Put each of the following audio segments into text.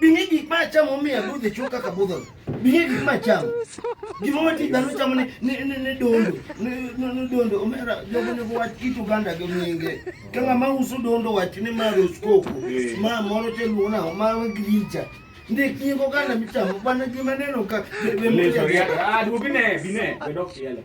Bingi gik ma acham omiyo adudh e chuka ka budho. Bingi gik ma acham. Gima wati dhano chamo ni ni ni ni dondo. Ni ni ni dondo omera jogo ne wach kit Uganda gi nyinge. Ka ng'ama uso dondo wach ni ma roskoko. Ma moro te luona ma gricha. Ndik nyingo ganda michamo bana gima neno ka be be Leso, ya- ah, duogi ne, bi ne, be dok tiele.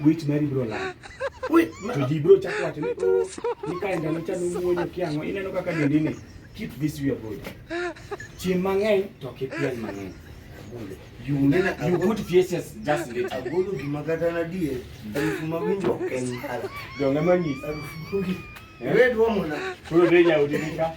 Wich mari bro la. Wait, to ji bro chako wacho ni oh, ni ka ndalo cha nuwuoyo kiango ineno kaka dendi ni keep this your body. Chiem mang'eny to kipiel mang'eny. You nena you put faces just later. Agolo gima kata na die. Harufu mawinjo ok en hala. Donga manyisa. Harufu. Wewe duomo na. Kuro deja udinga.